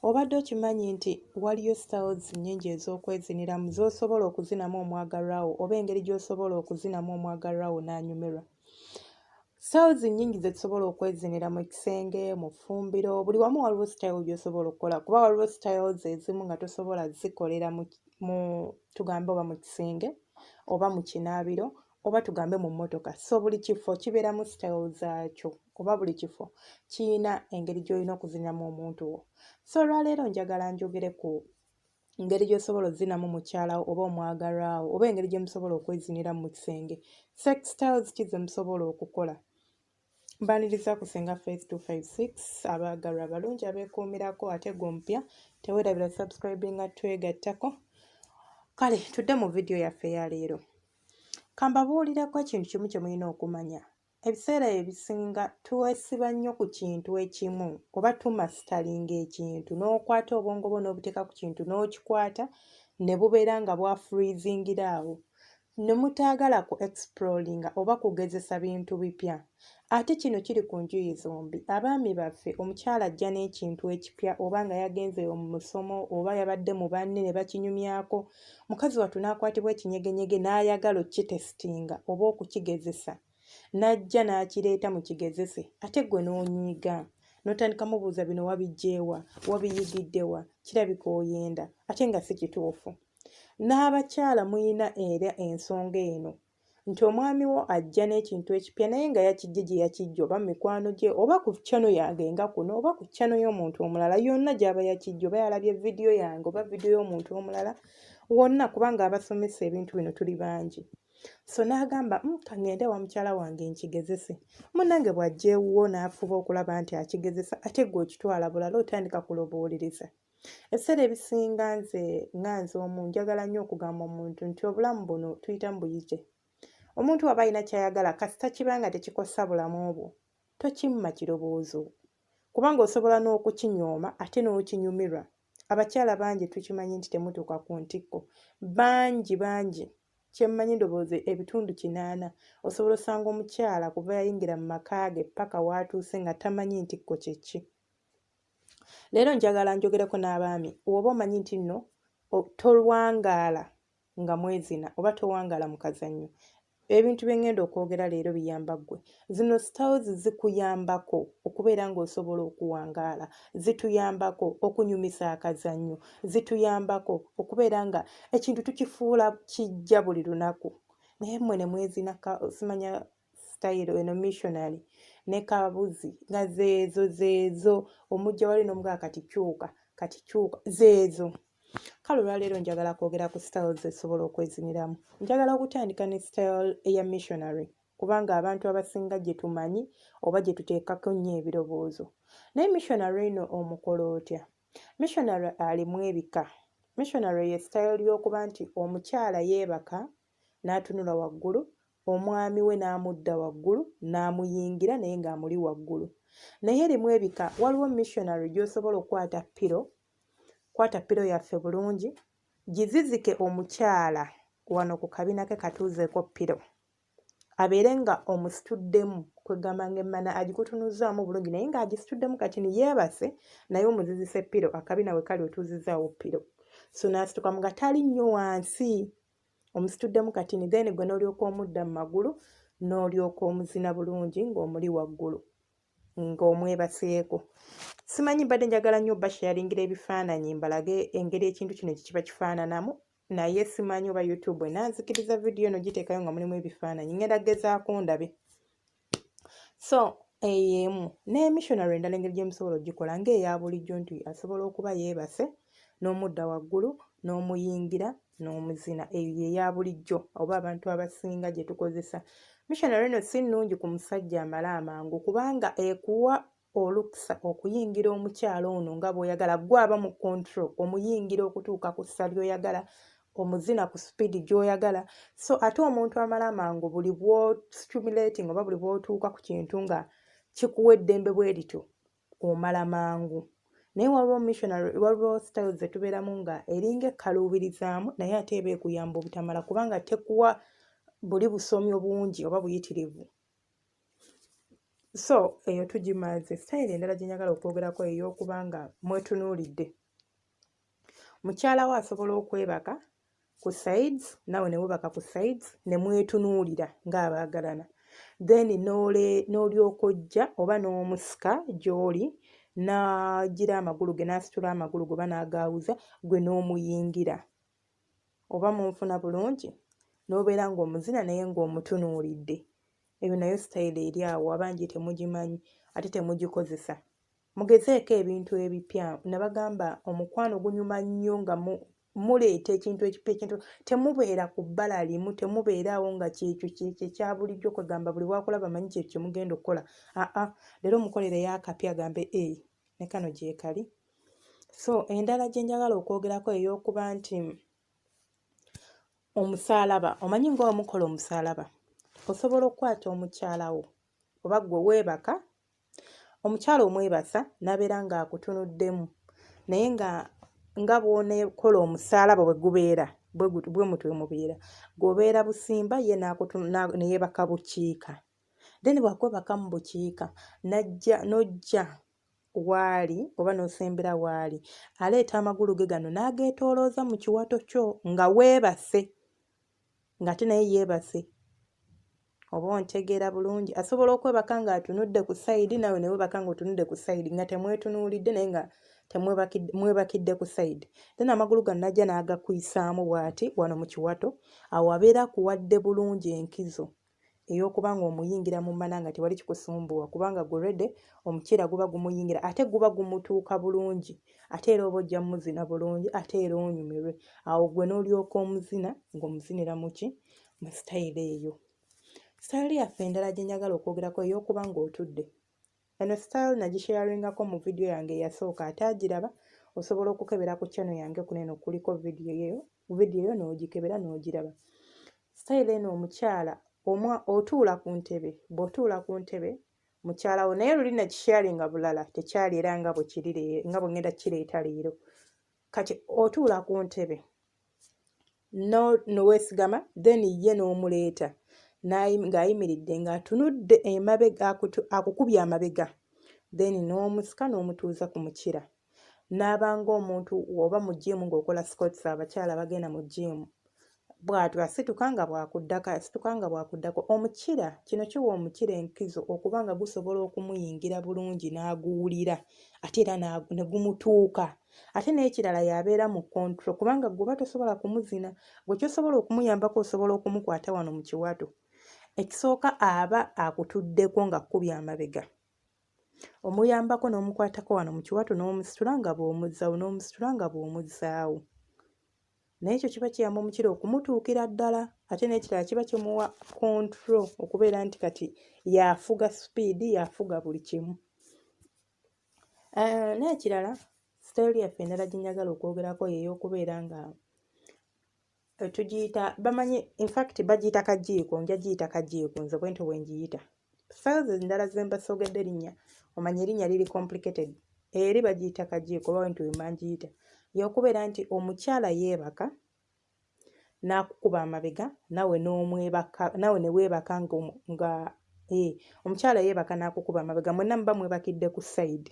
Obadde okimanyi nti waliyo styles nnyingi ez'okweziniramu z'osobola okuzinamu omwagalwa wo oba engeri gy'osobola okuzinamu omwagalwa wo n'anyumirwa? Styles nnyingi ze tusobola okwezinira mu kisenge, mu ffumbiro, buli wamu waliwo styles gy'osobola okukola kuba waliwo styles ezimu nga tosobola zikolera mu mu tugambe oba mu kisenge oba mu kinaabiro oba tugambe mu mmotoka. So buli kifo kibeeramu styles zaakyo oba buli kifo kiyina engeri gy'olina okuziniramu omuntu wo. So olwaleero njagala njogere ku ngeri gy'osobola ozinamu mukyalawo oba omwagalwawo oba engeri gye musobola okweziniramu mu kisenge sex styles ki ze musobola okukola mbaniriza ku senga face 256 abaagalwa abalungi abeekuumirako ate gwe omupya teweerabira subscribinga twegattako kale tudde mu vidiyo yaffe ya leero kambabuulireko ekintu kimu kye mulina okumanya Ebiseera ebisinga twesiba nnyo ku kintu ekimu oba tumasitalinga ekintu n'okwata obwongo bwo n'obuteeka ku kintu n'okikwata ne bubeera nga bwafurizingira awo ne mutaagala ku explodinga oba kugezesa bintu bipya. Ate kino kiri ku njuyi zombi. Abaami baffe omukyala ajja n'ekintu ekipya oba nga yagenze mu musomo oba yabadde mu banne ne bakinyumyako mukazi wattu n'akwatibwa ekinyegenyege n'ayagala okukitesitinga oba okukigezesa n'ajja n'akireeta mu kigezese ate ggwe n'onyiiga n'otandika mubuuza bino wabijjeewa wabiyigiddewa kirabika oyenda ate nga si kituufu n'abakyala mulina era ensonga eno nti omwami wo ajja n'ekintu ekipya naye nga yakijje gye yakijja oba mikwano gye oba ku chano yange nga kuno oba ku chano y'omuntu omulala yonna gy'aba yakijja oba yalabye vidiyo yange oba vidiyo y'omuntu omulala wonna kubanga abasomesa ebintu bino tuli bangi so n'agamba mm, kangende wa mukyala wange nkigezese munange bw'ajja ewuwo n'afuba okulaba nti akigezesa ate gwe okitwala bulala otandika kulobooliriza Ebiseera ebisinga nze nga nze omu njagala nnyo okugamba omuntu nti obulamu buno tuyita mu buyije. Omuntu waba alina ky'ayagala kasita kiba nga tekikosa bulamu bwo, tokimma kirowoozo kubanga osobola n'okukinyooma ate n'okinyumirwa. Abakyala bangi tukimanyi nti temutuuka ku ntikko. Bangi bangi kyemmanyi ndowooza ebitundu kinaana osobola osanga omukyala kuva yayingira mu maka ge ppaka w'atuuse nga tamanyi ntikko kye ki. leero njagala njogereko n'abaami woba omanyi nti nno tolwangaala nga mwezina oba towangaala mu kazannyo ebintu bye ŋŋenda okwogera leero biyamba ggwe zino styles zikuyambako okubeera ng'osobola okuwangaala zituyambako okunyumisa akazannyo zituyambako okubeera nga ekintu tukifuula kijja buli lunaku naye mmwe ne mwezinaka simanya style eno missionary ne kabuzi nga zeezo zeezo omujja wali nomugaa kati kyuka kati kyuka zeezo kale olwaleero njagala kwogera ku styles esobola okweziniramu njagala okutandika ne style eya missionary kubanga abantu abasinga gye tumanyi oba gye tuteekako nnyo ebirowoozo naye missionary eno omukola otya missionary alimu ebika missionary ye style y'okuba nti omukyala yeebaka n'atunula waggulu Omwami we n'amudda waggulu n'amuyingira naye ng'amuli waggulu. Naye erimu ebika, waliwo missionary gy'osobola okukwata ppiro, kwata ppiro yaffe bulungi, gizizike omukyala wano ku kabina ke katuuzeeko ppiro abeere nga omusituddemu kwegamba nga emmana agikutunuzzaamu bulungi naye ng'agisituddemu kati ni yeebase naye omuzizise ppiro akabina we kali otuuzizaawo ppiro so n'asitukamu nga tali nnyo wansi omusituddemu katini then gwe n'olyoka omudda mu magulu n'olyoka omuzina bulungi ng'omuli waggulu ng'omwebaseeko simanyi mbadde njagala nnyo basharingira ebifaananyi mbalage engeri ekintu kino gye kiba kifaananamu naye simanyi oba youtube enanzikiriza vidiyo eno giteekayo nga mulimu ebifaananyi ngenda gezaako ndabe so eyo emu ne missionary endala engeri gye musobola ogikola ng'eya bulijjo nti asobola okuba yeebase n'omudda waggulu n'omuyingira n'omuzina eyo yeya bulijjo oba abantu abasinga gye tukozesa missionary eno si nnungi ku musajja amale amangu kubanga ekuwa oluksa okuyingira omukyala ono nga bwoyagala gwe aba mu control omuyingira okutuuka ku ssa lyoyagala omuzina ku sipiidi gyoyagala so ate omuntu amala amangu buli bwostimulating oba buli bwotuuka ku kintu nga kikuwa eddembe bwe lityo omala mangu naye waliwo missionary waliwo style zetubeeramu nga eringa ekkaluubirizaamu naye ate eba ekuyamba obutamala kubanga tekuwa buli busomi obungi oba buyitirivu so eyo tugimaze sitayiro endala gye njagala okwogerako ey'okuba nga mwetunuulidde mukyala we asobola okwebaka ku sides nawe ne webaka ku sides ne mwetunuulira ng'abaagalana then n'olyoka ojja oba n'omusika gy'oli n'agira amagulu ge n'asitula amagulu ge oba n'agaawuza gwe n'omuyingira oba munfuna bulungi n'obeera ng'omuzina naye ng'omutunuulidde eyo nayo sitayiro eri awo abangi temugimanyi ate temugikozesa mugezeeko ebintu ebipya nabagamba omukwano gunyuma nnyo nga muleeta ekintu ekipya ekintu temubeera ku bbala limu temubeeraawo nga kyekyo kyekyo ekya bulijjo kwegamba buli wakulaba manyi kyekyo kyemugenda okukola aa leero mukolereyo akapya agambe e eh, ne kano gyekali so endala gye njagala okwogerako ey'okuba nti omusaalaba omanyi nga omukola omusaalaba osobola okukwata omukyala wo oba gwe weebaka omukyala omwebasa n'abeera ng'akutunuddemu naye nga nga bw'oneekola omusaalaba bwe gubeera bwe mutwe mubeera gw'obeera busimba ye ne yeebaka bukiika then bwakwebaka mu bukiika n'ajja n'ojja w'ali oba n'osembera w'ali aleeta amagulu ge gano n'ageetoolooza mu kiwato kyo nga weebase ng'ate naye yeebase oba ontegeera bulungi asobola okwebaka ng'atunudde ku sayidi naawe ne weebaka ng'otunudde ku sayidi nga temwetunuulidde naye nga temwebakidde ku sayidi then amagulu gano najja n'agakuyisaamu bw'ati wano mu kiwato awo abeera akuwadde bulungi enkizo eyokuba nga omuyingira mu mana nga tewali kikusumbuwa kubanga gwe already omuceera guba gumuyingira ate guba gumutuuka bulungi ate era oba ojja muzina bulungi ate era onyumirwe awo gwe n'olyoka omuzina ng'omuzinira muki mu sitayiro eyo sitayiro yaffe endala gye njagala okwogerako eyokuba ng'otudde Eno style nagisharingako mu video yange eyasooka ate agiraba osobola okukebera ku channel yange kuno eno kuliko video yo video yo n'ogikebera n'ogiraba style eno omukyala omwa otuula ku ntebe bw'otuula ku ntebe mukyala wo naye luli nakisharinga bulala tekyali era nga bwe kiri nga bwe ngenda kireeta leero kati otuula ku ntebe nowesigama then ye n'omuleeta ng'ayimiridde ng'atunudde emabega akukubye amabega then n'omusika n'omutuuza ku mukira n'aba ng'omuntu oba mu jiimu ng'okola scots abakyala bagenda mu jiimu bw'atyo asituka nga bw'akuddako asituka nga bw'akuddako omukira kino kiwa omukira enkizo okuba nga gusobola okumuyingira bulungi n'aguwulira ate era ne gumutuuka ate n'ekirala y'abeera mu kontro kubanga gwe oba tosobola kumuzina gwe kyosobola okumuyambako osobola okumukwata wano mu kiwato ekisooka aba akutuddeko nga kkubya amabega omuyambako n'omukwatako wano mu kiwato n'omusitula nga bw'omuzzawo n'omusitula nga bw'omuzzaawo naye ekyo kiba kiyamba omukira okumutuukira ddala ate n'ekirala kiba kimuwa kontro okubeera nti kati yafuga sipiidi yafuga buli kimu Eh, n'ekirala sitayiro yaffe endala gye njagala okwogerako yeey'okubeera nga eh, tugiyita bamanyi infact bagiyita kajiiko nja giyita kajiiko nze bwentyo bwe ngiyita sitayiro endala ze mbasoogedde erinnya omanya erinnya liri complicated eri bagiyita kajiiko oba wentyo bwe mangiyita y'okubeera nti omukyala yeebaka n'akukuba amabega nawe n'omwebaka nawe ne weebaka nga nga ee eh, omukyala yeebaka n'akukuba amabega mwenna muba mwebakidde ku sayidi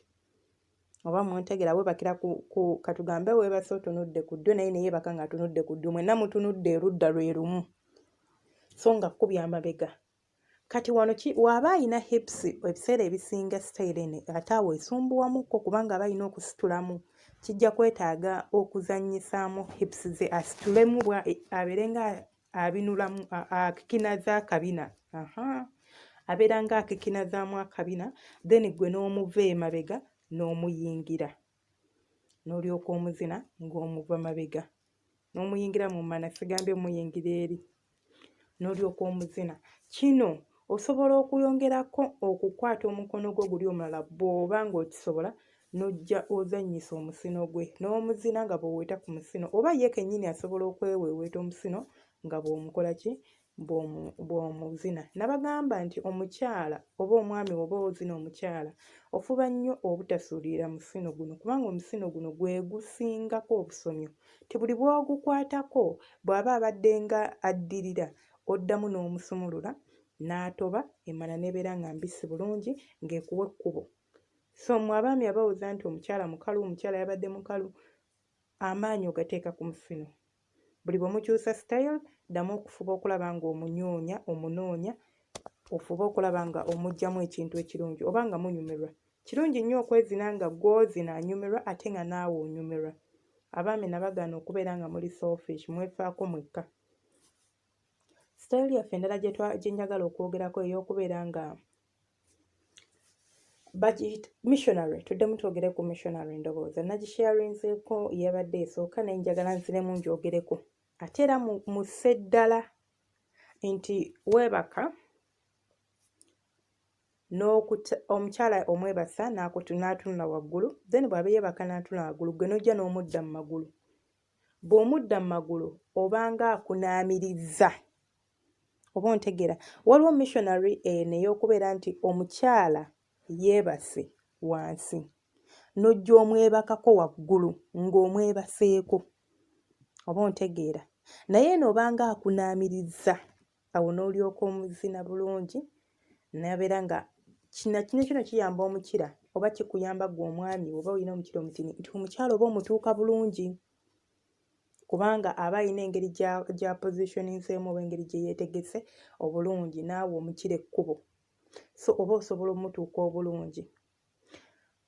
oba muntegera weebakira ku, ku katugambe weebase otunudde ku ddyo naye ne yeebaka ng'atunudde ku ddyo mwenna mutunudde erudda lwe lumu so nga kkubya amabega kati wano ki waba ayina hips ebiseera ebisinga sitayiro eno ate awo esumbuwamukko kubanga aba ayina okusitulamu kijja kwetaaga okuzanyisaamu hips ze asitulemu bwa abeere nga abinulamu akikinaza akabina aha abeera nga akikinazaamu akabina then gwe n'omuva emabega n'omuyingira n'olyoka omuzina ng'omuva mabega n'omuyingira mu mmana sigambye omuyingira eri n'olyoka omuzina kino osobola okuyongerako okukwata omukono gwo guli omulala bw'oba ng'okisobola n'ojja ozannyisa omusino gwe n'omuzina nga bw'oweta ku musino oba ye kennyini asobola okweweeweeta omusino nga bw'omukola ki bw'omuzina nabagamba nti omukyala oba omwami oba ozina omukyala ofuba nnyo obutasuulirira musino guno kubanga omusino guno gwe gusingako obusomyo ti buli bw'ogukwatako bw'aba abadde nga addirira oddamu n'omusumulula n'atoba emana n'ebeera nga mbisi bulungi ng'ekuwa ekkubo so mwe abaami abawoza nti omukyala mukalu omukyala yabadde mukalu amaanyi ogateeka ku musino Buli bwe mukyusa sitayiro ddamu okufuba okulaba ng'omunyoonya omunoonya ofube okulaba nga omugyamu ekintu ekirungi oba nga munyumirwa kirungi nnyo okwezina nga gwozina anyumirwa ate nga naawe onyumirwa abaami nabagaana okubeera nga muli selfish mwefaako mwekka sitayiro yaffe endala gye njagala okwogerako ey'okubeera nga bagiyita missionary tuddemu twogere ku missionary endowooza nagisharinzeeko yabadde esooka naye njagala nziremu njogereko ate era mu sseddala nti weebaka omukyala omwebasa n'atunula waggulu then bw'aba yeebaka n'atuna waggulu gwe n'ojja n'omudda mu magulu bw'omudda mu magulu obanga akunaamiriza oba ontegeera waliwo missionary eno ey'okubeera nti omukyala yeebase wansi n'ojja omwebakako waggulu ng'omwebaseeko oba ontegeera naye eno obanga akunaamiriza awo n'olyoka omuzina bulungi nabeera nga kina kino kino kiyamba omukira oba kikuyamba gwe omwami oba olina omukira omutini nti omukyala oba omutuuka bulungi kubanga aba alina engeri gya positioning-seemu oba engeri gye yeetegese obulungi naawe omukira ekkubo so oba osobola omutuuka obulungi.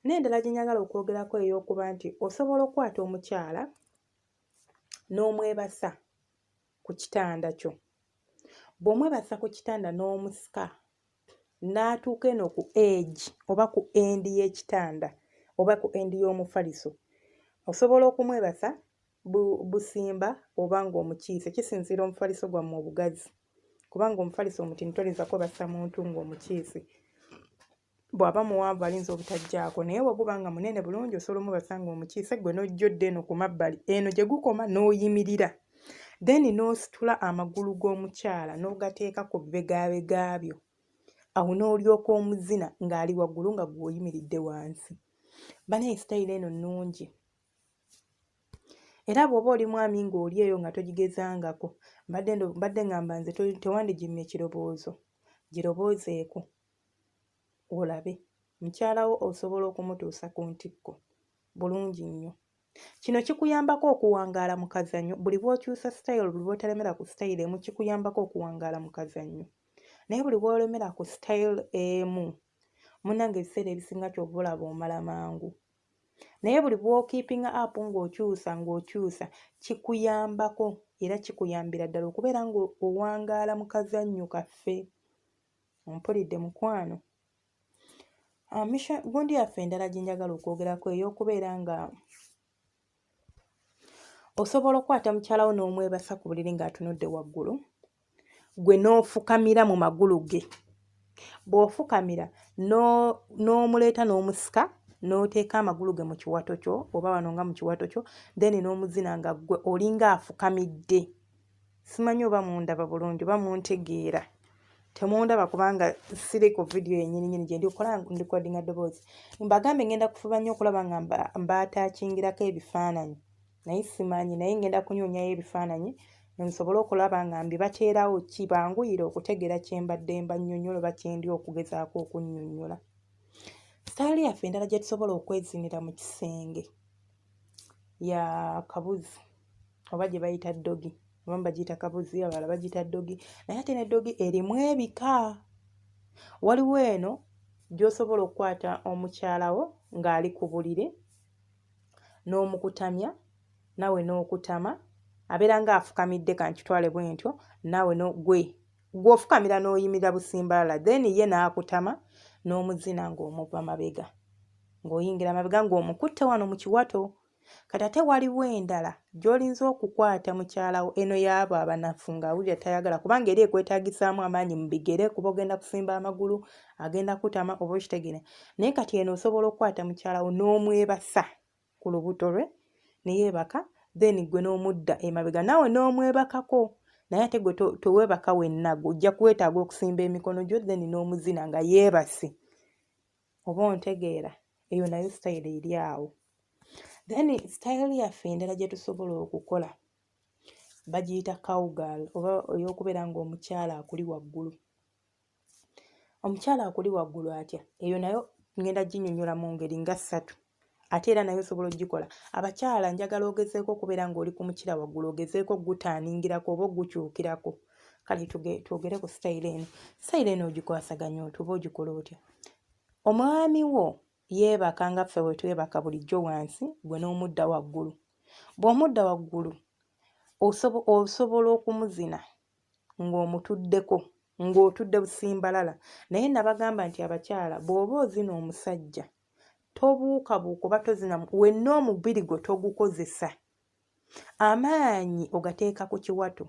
N'endala gye njagala okwogerako ey'okuba nti osobola okukwata omukyala n'omwebasa ku kitanda kyo. Bw'omwebasa ku kitanda n'omusika n'atuuka eno ku age oba ku end y'ekitanda oba ku end y'omufaliso osobola okumwebasa bu, busimba oba ng'omukiise kisinziira omufaliso gwammwe obugazi kubanga omufaliso omutini toyinza kwebasa muntu ng'omukiise bw'aba muwanvu ayinza obutajjaako naye bwe guba nga munene bulungi osobola omubasa ng'omukiise ggwe n'ojja odda eno ku mabbali eno gye gukoma n'oyimirira then n'ositula amagulu g'omukyala n'ogateeka ku bibegaabega byo awo n'olyoka omuzina ng'ali waggulu nga gwe oyimiridde wansi banaye sitayiro eno nnungi era bw'oba oli mwami ng'oli eyo nga togigezangako mbadde ngamba nze tewandigimya ekiroboozo giroboozeeko olabe mukyalawo osobola okumutuusa ku ntikko bulungi nnyo Kino kikuyambako okuwangaala mu kazannyo buli bw'okyusa sitayiro buli lw'otalemera ku sitayiro emu kikuyambako okuwangaala mu kazannyo naye buli bw'olemera ku sitayiro emu munnange ebiseera ebisinga kyova olaba omala mangu naye buli bw'okiipinga apu ng'okyusa ng'okyusa kikuyambako era kikuyambira ddala okubeera ng'owangaala mu kazannyo kaffe ompulidde mukwano Ah, gundi yaffe endala gye njagala okwogerako ey'okubeera nga osobola okukwata mukyala wo n'omwebasa ku buliri ng'atunudde waggulu gwe n'ofukamira mu magulu ge bw'ofukamira n'omuleeta n'omusika n'oteeka amagulu ge mu kiwato kyo oba wano nga mu kiwato kyo then n'omuzina nga ggwe olinga afukamidde simanyi oba mundaba bulungi oba muntegeera temundaba kubanga siri ku vidiyo yenyini nyini gyendi okola ndikodinga ddoboozi mbagambe ngenda kufuba nnyo okulaba nga mbatakingirako ebifaananyi naye simanyi naye ngenda kunyonyayo ebifaananyi nsobole okulaba nga mbibateerawo kibanguyire okutegeera kyembadde mbanyonyola oba kyendi okugezaako okunyonyola sitaali yaffe endala gyetusobola okwezinira mu kisenge ya kabuzi oba gye bayita ddogi abamu bagiyita kabuzi abalala bagiyita ddogi naye ate ne ddogi erimu ebika waliwo eno gy'osobola okukwata omukyala wo ng'ali ku buliri n'omukutamya naawe n'okutama abeera ng'afukamidde kankitwale bwentyo naawe nogwe Gwe ofukamira noyimirira busimbalala then ye nakutama nomuzina nga omuva mabega nga oyingira mabega nga omukutte wano mukiwato kati ate waliwo endala gyolinza okukwata mukyalawo eno yaabo abanafu nga awulira tayagala kubanga eri ekwetagisaamu amaanyi mubigere kuba ogenda kusimba amagulu agenda kutama oba okitegere naye kati eno osobola okukwata mukyalawo nomwebasa ku lubuto lwe ne yeebaka then gwe n'omudda emabega naawe n'omwebakako naye ate gwe teweebaka wenna gwe ojja kwetaaga okusimba emikono gyo then n'omuzina nga yeebase oba ontegeera eyo nayo sitayiro eri awo then sitayiro yaffe endala gye tusobola okukola bagiyita cowgal oba ey'okubeera ng'omukyala akuli waggulu omukyala akuli waggulu atya eyo nayo ngenda ginyonyola mu ngeri nga ssatu ate era naye osobola ogikola abakyala njagala ogezeeko okubeera ng'oli ku mukira waggulu ogezeeko ogutaaningirako oba ogukyukirako kale twogere ku sitayiro eno sitayiro eno ogikwasaganya oti oba ogikola otya omwami wo yeebaka nga ffe we twebaka bulijjo wansi gwe n'omudda waggulu bw'omudda waggulu osobola okumuzina ng'omutuddeko ng'otudde busimbalala naye nabagamba nti abakyala bw'oba ozina omusajja tobuukabuuka oba tozina wenna omubiri gwe togukozesa amaanyi ogateeka ku kiwato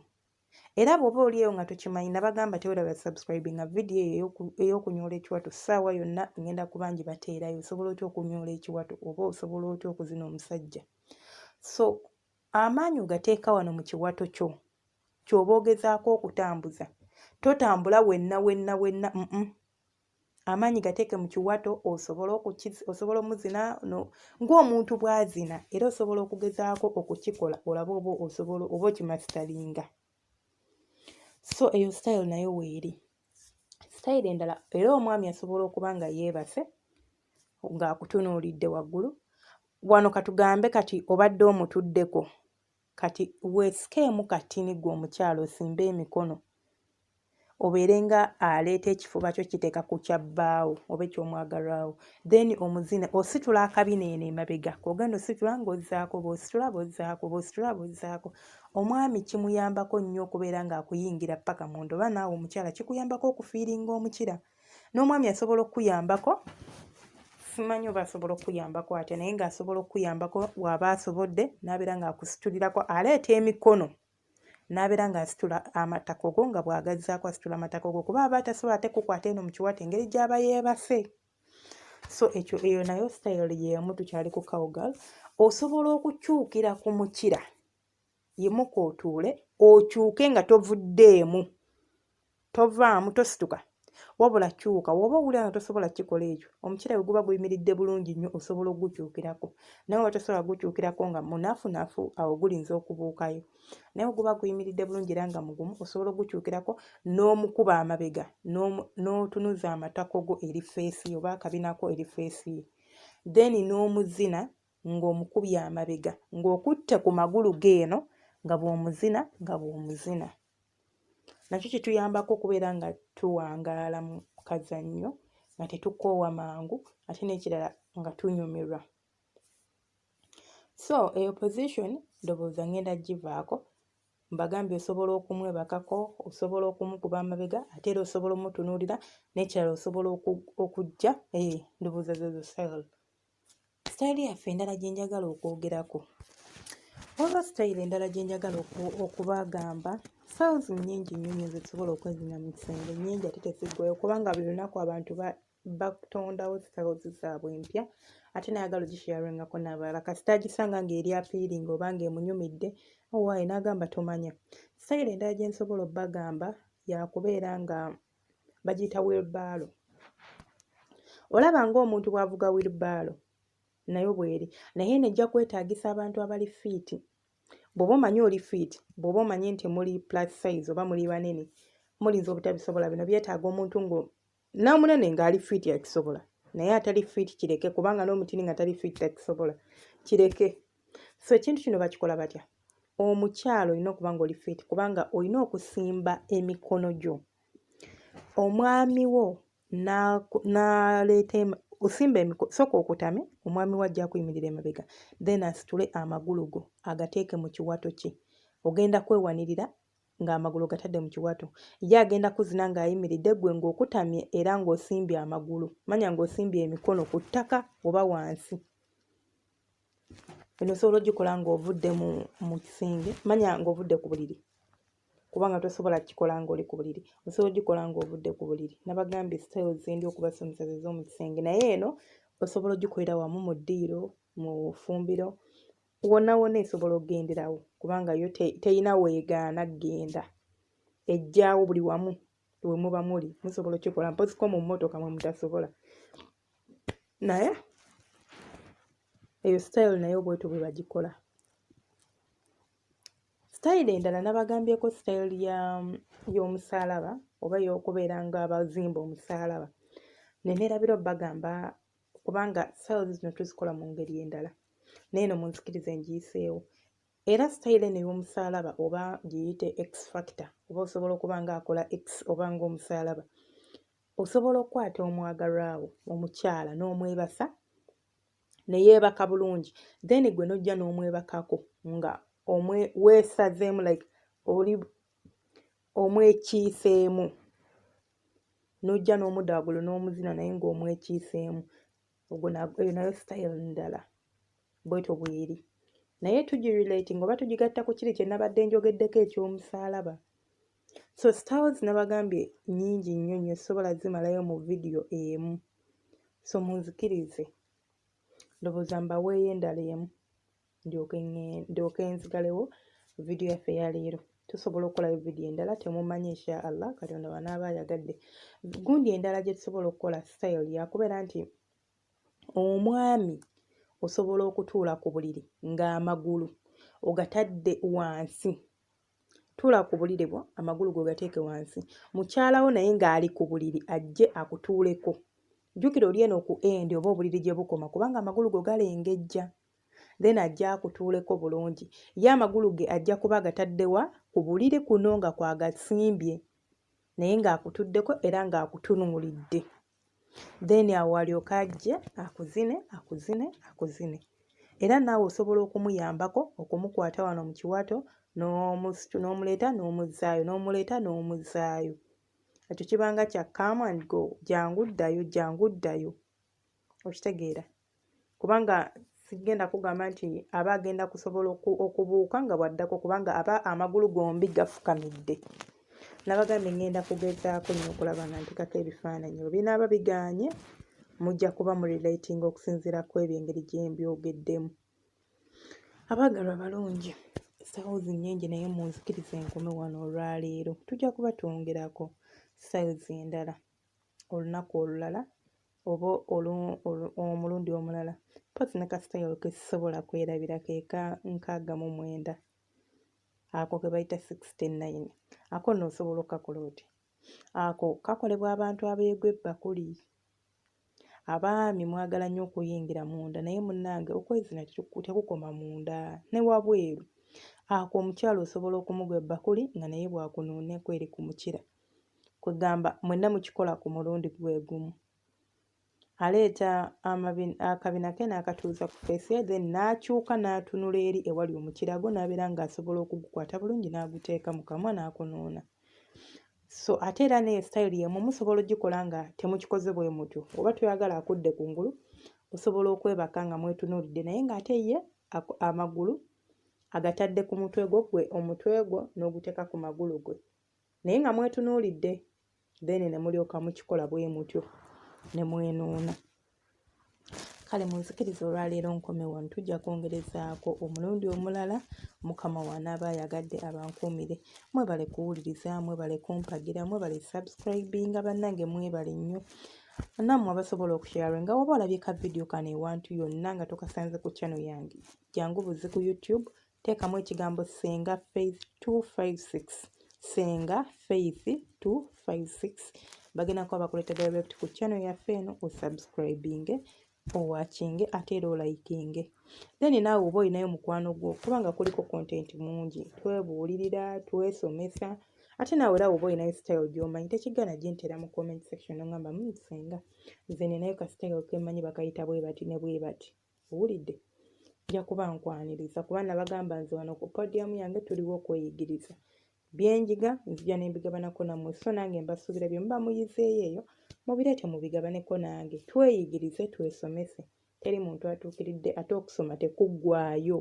era bw'oba oli eyo nga tokimanyi nabagamba tewera basubscribe nga vidiyo eyo ey'okunyoola ekiwato ssaawa yonna ngenda kuba ngi bateerayo osobola otya okunyoola ekiwato oba osobola otya okuzina omusajja so Amaanyi ogateeka wano mu kiwato kyo ky'oba ogezaako okutambuza. Totambula wenna wenna wenna mm amaanyi gateeke mu kiwato osobola osobola omuzina no ng'omuntu bw'azina era osobola okugezaako okukikola olabe oba osobola oba okimasitalinga. so eyo sitayiro nayo weeri sitayiro endala era omwami asobola okuba nga yeebase ng'akutunuulidde waggulu wano katugambe kati obadde omutuddeko kati weesikeemu katini gwe omukyala osimbe emikono obeere nga aleeta ekifuba kyo kiteeka ku kya bbaawo oba eky'omwagalwawo then omuzine ositula akabina eno emabega kogenda ositula ng'ozzaako bw'ositula bw'ozzaako bw'ositula bw'ozzaako omwami kimuyambako nnyo okubeera ng'akuyingira ppaka munda oba naawe omukyala kikuyambako okufiiringa omukira n'omwami asobola okukuyambako simanyi oba asobola okukuyambako atya naye ng'asobola okukuyambako waaba asobodde n'abeera ng'akusitulirako aleeta emikono n'abeera ng'asitula amatako go nga bw'agazzaako asitula amatako go kuba aba atasobola ate kukwata eno mu kiwato engeri gy'aba yeebase so ekyo eyo nayo sitayiro y'emu tukyali ku cowgal osobola okukyukira ku mukira yimuka otuule okyuke nga tovuddeemu Tovaamu, tosituka, wabula kyuka. W'oba owulira nga tosobola kukikola ekyo, omukiira bwe guba guyimiridde bulungi nnyo osobola okugukyukirako. Naye w'oba tosobola kugukyukirako nga munafunafu, awo gulinza okubuukayo. Naye bwe guba guyimiridde bulungi era nga mugumu, osobola okugukyukirako n'omukuba amabega n'otunuza amatako go eri feesi ye oba akabina ko eri feesi ye, then n'omuzina ng'omukubye amabega ng'okutte ku magulu ge eno nga bw'omuzina nga bw'omuzina. nakyo kituyambako okubeera nga tuwangaala mu kazannyo nga tetukoowa mangu ate n'ekirala nga tunyumirwa so eyo position ndowooza ngenda givaako mbagambye osobola okumwebakako osobola okumukuba amabega ate era osobola omutunuulira n'ekirala osobola okujja eh, ndowooza zezo sel sitayiro yaffe endala gye njagala okwogerako waliwo sitayiro endala gye njagala okubagamba sales nnyingi nnyo nyo zetusobola okwezina mu kisenge nnyingi ate teziggwayo kubanga buli lunaku abantu batondawo sales zaabwe empya ate nayagala ogisharingako n'abalala kasita agisanga ng'eri apiiringa oba ng'emunyumidde owaaye n'agamba tomanya sitayiro endala gye nsobola obbagamba yakubeera nga bagiyita wilbaalo olaba ng'omuntu bw'avuga wilbaalo nayo bw'eri naye eno ejja kwetaagisa abantu abali fiiti bw'oba omanyi oli fiiti bw'oba omanyi nti muli plus size oba muli banene mulinza obutabisobola bino byetaaga omuntu nga n'omunene ng'ali fiiti akisobola naye atali fiiti kireke kubanga n'omutini nga tali fiiti takisobola kireke so ekintu kino bakikola batya omukyalo olina okuba nga oli fit kubanga olina okusimba emikono gyo omwami wo naleeta osimba emiko soka okutame omwami wo ajja kuyimirira emabega then asitule amagulu go agateeke mu kiwato kye ogenda kwewanirira ng'amagulu gatadde mu kiwato ye agenda kuzina ng'ayimiridde gwe ng'okutamye era ng'osimbye amagulu manya ng'osimbye emikono ku ttaka oba wansi Eno osobola ogikola ng'ovudde mu mu kisenge manya ng'ovudde ku buliri kubanga tosobola kikola ng'oli ku buliri osobola ogikola ng'ovudde ku buliri nabagambye style zendi okubasomesa ze z'omu kisenge naye eno osobola ogikolera wamu mu ddiiro mu fumbiro wonna wonna esobola okugenderawo kubanga yo teyina weegaana genda ejjaawo buli wamu we muba muli musobola okikola mpozi ko mu mmotoka mwe mutasobola naye eyo sitayiro naye obwetu bwe bagikola sitayiro endala nabagambyeko sitayiro y'omusaalaba oba y'okubeera nga abazimba omusaalaba nenerabira bagamba kubanga sitayiro zino tuzikola mu ngeri endala naye no munzikiriza engiyiseewo Era sitayiro eno ey'omusaalaba oba giyite X factor oba osobola okuba ng'akola X oba ng'omusaalaba, osobola okukwata omwagalwa wo omukyala n'omwebasa ne yeebaka bulungi then gwe n'ojja n'omwebakako nga omwe weesazeemu like oli omwekiiseemu n'ojja n'omuda waggulu n'omuzina naye ng'omwekiiseemu ogwo eyo nayo style ndala bwetyo bweri naye tugirelate ngaoba tugigatta ku kiri kyenabadde njogeddeko ekyomusaalaba so styles nabagambye nyingi nnyo nnyo sobola zimalayo mu vidiyo emu so munzikirize ndowooza mbaweeyo endala emu ndyoke nzigalewo vidiyo yaffe ya leero tusobola okukolayo vidiyo endala temumanyi insha allah katonda wanaaba ayagadde gundi endala gye tusobola okukola style yakubeera nti omwami osobola okutuula ku buliri ng'amagulu ogatadde wansi tuula ku buliri bwo amagulu go gateeke wansi mukyalawo naye ng'ali ku buliri ajje akutuuleko jjukira oli eno ku endi oba obuliri gye bukoma kubanga amagulu go galengejja then ajja akutuuleko bulungi ye amagulu ge ajja kuba agatadde wa ku buliri kuno nga kwagasimbye naye ng'akutuddeko era ng'akutunuulidde then awo alyoka ajje akuzine akuzine akuzine era naawe osobola okumuyambako okumukwata wano mu kiwato n'omuleeta n'omuzzaayo n'omuleeta n'omuzzaayo ekyo kibanga kya come and go jangu ddayo jangu ddayo okitegeera kubanga sigenda kugamba nti aba agenda kusobola okubuuka nga bwaddako kubanga aba amagulu gombi gafukamidde nabagambye ngenda kugezaako nyo okulaba nga ntekako ebifaananyi bwe binaaba biganye mujja kuba mu relating okusinziira ku ebyo engeri gyembyogeddemu abaagalwa abalungi styles nnyingi naye munzikiriza enkome wano olwaleero tujja kuba twongerako styles endala olunaku olulala oba omulundi omulala mpozzi ne kasitayolo ke sisobola kwerabira ke ka nkaaga mu mwenda ako ke bayita sixty nine ako nno osobola okukakola oti ako kakolebwa abantu abeegwa ebbakuli abaami mwagala nnyo okuyingira munda naye munnange okwezina tekukoma munda ne wabweru ako omukyala osobola okumugwa ebbakuli nga naye bwakunuunaku eri ku mukira kwegamba mwenna mukikola ku mulundi gwe gumu aleeta akabina ke n'akatuuza ku feesi ye then n'akyuka n'atunula eri ewali omukira gwo n'abeera ng'asobola okugukwata bulungi n'aguteeka mu kamwa n'akunuuna so ate era ne style yemu musobola ogikola nga temukikoze bwe mutyo oba toyagala akudde ku ngulu osobola okwebaka nga mwetunuulidde naye ng'ate ye amagulu agatadde ku mutwe gwo gwe omutwe gwo n'oguteeka ku magulu gwe naye nga mwetunuulidde then ne mulyoka mukikola bwe mutyo ne mwenuuna kale munzikiriza olwaleero nkome wano tujja kwongerezaako omulundi omulala mukama wanaaba ayagadde abankuumire mwebale kuwuliriza mwebale kumpagira mwebale subscribinga bannange mwebale nnyo nammwe abasobola okushaare nga waba olabye ka vidiyo kano ewantu yonna nga tokasanze ku channel yange jangu buzi ku youtube teekamu ekigambo ssenga faith 256 ssenga faith 256 bagenda kuba bakuleta direct ku channel yaffe eno osubscribinge owakinge ate era olayikinge then naawe oba olinayo mukwano gwo kubanga kuliko content mungi twebuulirira twesomesa ate naawe era oba olinayo style gyomanyi tekigana gintera mu comment section nongamba musenga hmm, nze ninayo ka style kemanyi bakayita bwebati ne bwebati owulidde nja kuba nkwaniriza kuba nabagamba nze wano ku podiyamu yange tuliwo okweyigiriza byenjiga nzija nembigabanako nammwe so nange mbasuubira bye muba muyizeeyo eyo mubireete mubigabaneko nange tweyigirize twesomese teri muntu atuukiridde ate okusoma tekuggwayo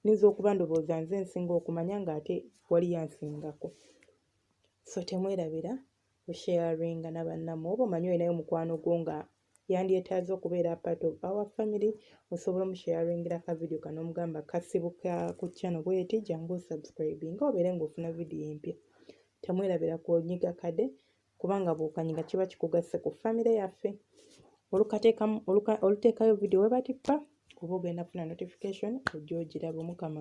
nyinza okuba ndowooza nze nsinga okumanya ng'ate waliyo ansingako so temwerabira osharinga nabannamu oba omanyi olinayo mukwano gwo nga yandyetaaze okubeera part of our family osobola omusharingira ka video kano omugamba kasibuka ku channel bweti jangu osubscribinga obeere ngaofuna video empya temwerabira kunyiga kade kubanga bwokanyiga kiba kikugasse ku famire yaffe oluteekayo video webatippa oba ogenda funa notification ojja ogiraba omukama